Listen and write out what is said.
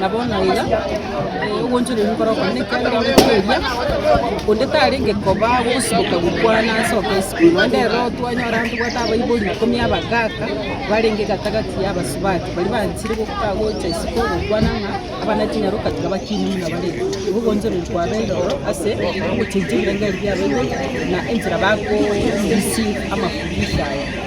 Na bono iga ogoonchoreria nkore okong'u, ekiagera onde tairia, onde tarenge koba gosiboka gokwana ase oboisiko, naende ere twanyora ntobwate abaibori ikomi abagaaka, barenge gati-gati y'abasubati, baria banchire goka gocha isiko gokwana ng'a abana chinyaroka tiga bakinire buna bare. Igo ogoonchoreria kwabeire ororo ase ogochenchia ebirengererio bi'abaibori, na enchera bakoorisia amafundisho aya.